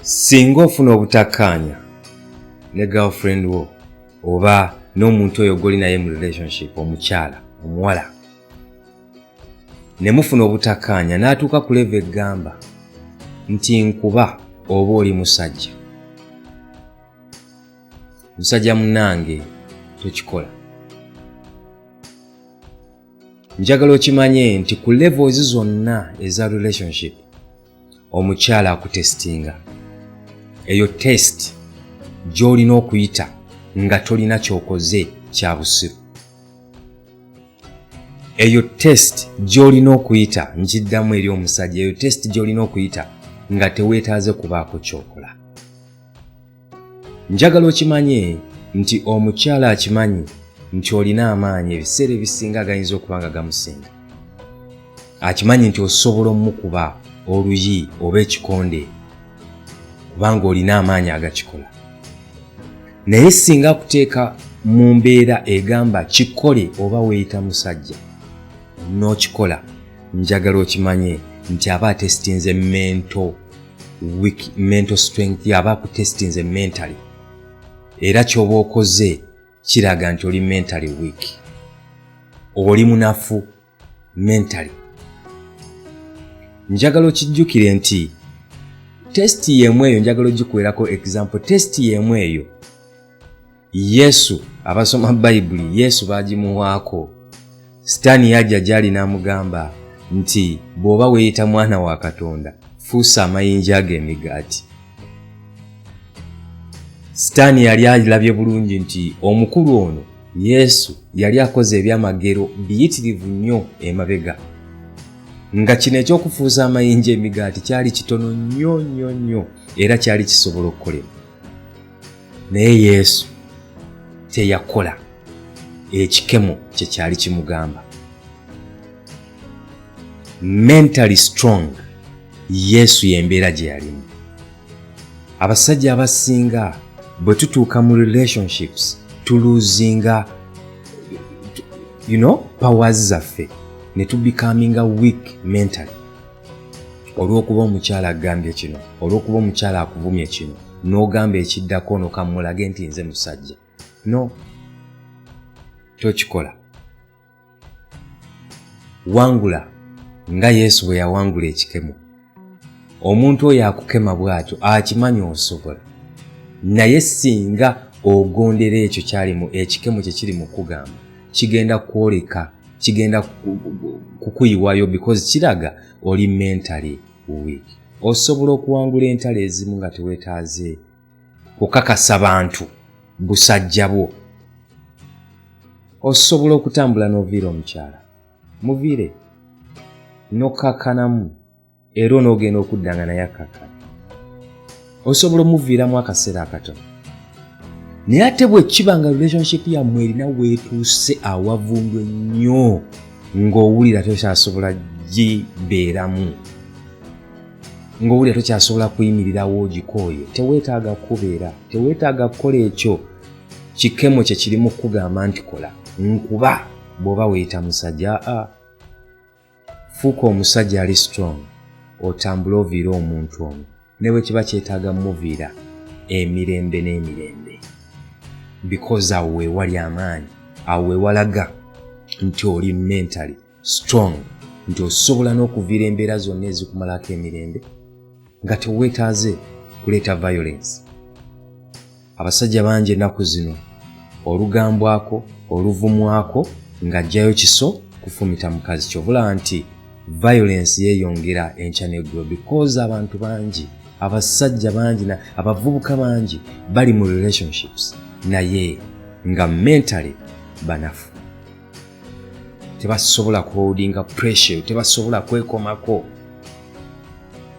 singa ofuna obutakkaanya ne girlfriend wo oba n'omuntu oyo goli naye mu relationship omukyala omuwala ne mufuna obutakkaanya n'atuuka ku leva eggamba nti nkuba oba oli musajja musajja munange tokikola njagala okimanye nti ku levels zonna eza relationship omukyala akutestinga eyo test gy'olina okuyita nga tolina kyokoze kya busiru eyo test gy'olina okuyita nkiddamu eri omusajja eyo test gy'olina okuyita nga teweetaaze kubaako kyokola njagala okimanye nti omukyala akimanyi nti olina amaanyi ebiseera ebisinga agayinza okuba nga gamusinga akimanyi nti osobola omukuba oluyi oba ekikonde kubanga olina amaanyi agakikola naye singa akuteeka mu mbeera egamba kikole oba weeyita musajja n'okikola njagala okimanye nti aba atesitinze mento weak mental strength yaba akutestinze mentally era kyoba okoze kiraga nti oli mentally weak oli munafu mentally njagala okijjukire nti testi yemu eyo njagala ogikuwerako example testi yemu eyo yesu abasoma bayibuli yesu bagimuwaako sitaani yajja gyali n'amugamba nti bw'oba weeyita mwana wa katonda fuusa amayinja ago emigaati sitaani yali alabye bulungi nti omukulu ono yesu yali akoze ebyamagero biyitirivu nnyo emabega nga kino ekyokufuuza amayinja emigaati kyali kitono nnyo nnyo nnyo era kyali kisobola okukolebwa naye yesu teyakola ekikemo kye kyali kimugamba mentally strong yesu yembeera gye yalimu abasajja abasinga bwe tutuuka mu relationships tuluzinga you know powers zaffe ne tubikaminga week mentally olw'okuba omukyala agambye kino olw'okuba omukyala akuvumye kino n'ogamba ekiddako ono kammulage nti nze musajja no tokikola wangula nga yesu bwe yawangula ekikemo omuntu oyo akukema bw'atyo akimanya osobola naye singa ogondera ekyo kyalimu ekikemo kye kiri mu kugamba kigenda kwoleka kigenda kukuyiwayo because kiraga oli mentally weak osobola okuwangula entalo ezimu nga tewetaaze kukakasa bantu busajja bwo osobola okutambula n'oviira omukyala muviire nokakkanamu era onoogenda okudda nga naye akkakkana osobola omuviiramu akaseera akatono naye ate bwe kiba nga relationship yammwe erina weetuuse awavundu ennyo ng'owulira tokyasobola gibeeramu ng'owulira tokyasobola kuyimirirawo ogikooye teweetaaga kukubeera teweetaaga kukola ekyo kikemo kye kirimu kukugamba nti kola nkuba bw'oba weeyita musajja a ah, fuuka omusajja ali strong otambule oviire omuntu ono ne bwe kiba kyetaaga muviira emirembe n'emirembe because awo wewali amaanyi awo wewalaga nti oli mentally strong nti osobola n'okuviira embeera zonna ezikumalako emirembe nga teweetaaze kuleeta violence abasajja bangi ennaku zino olugambwako oluvumwako ng'ajjayo kiso kufumita mukazi kyobulaba nti violence yeeyongera enkya neggulo because abantu bangi abasajja bangi abavubuka bangi bali mu relationships naye nga mentally banafu tebasobola kuholdinga pressure tebasobola kwekomako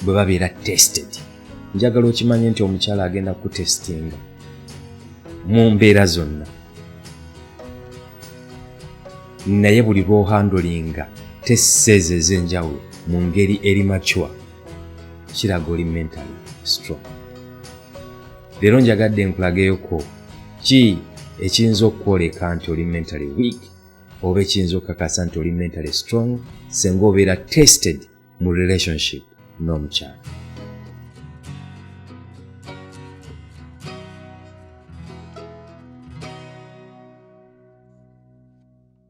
bwe babeera tested njagala okimanye nti omukyala agenda kutestinga mu mbeera zonna naye buli lwohandolinga teseeza ez'enjawulo mu ngeri eri macwa kiraga oli mentally strong leero njagadde nkulageyoko ki ekiyinza okukwoleka nti oli mentally weak oba ekiyinza okukakasa nti oli mentally strong senga obeera tested mu relationship n'omukyalo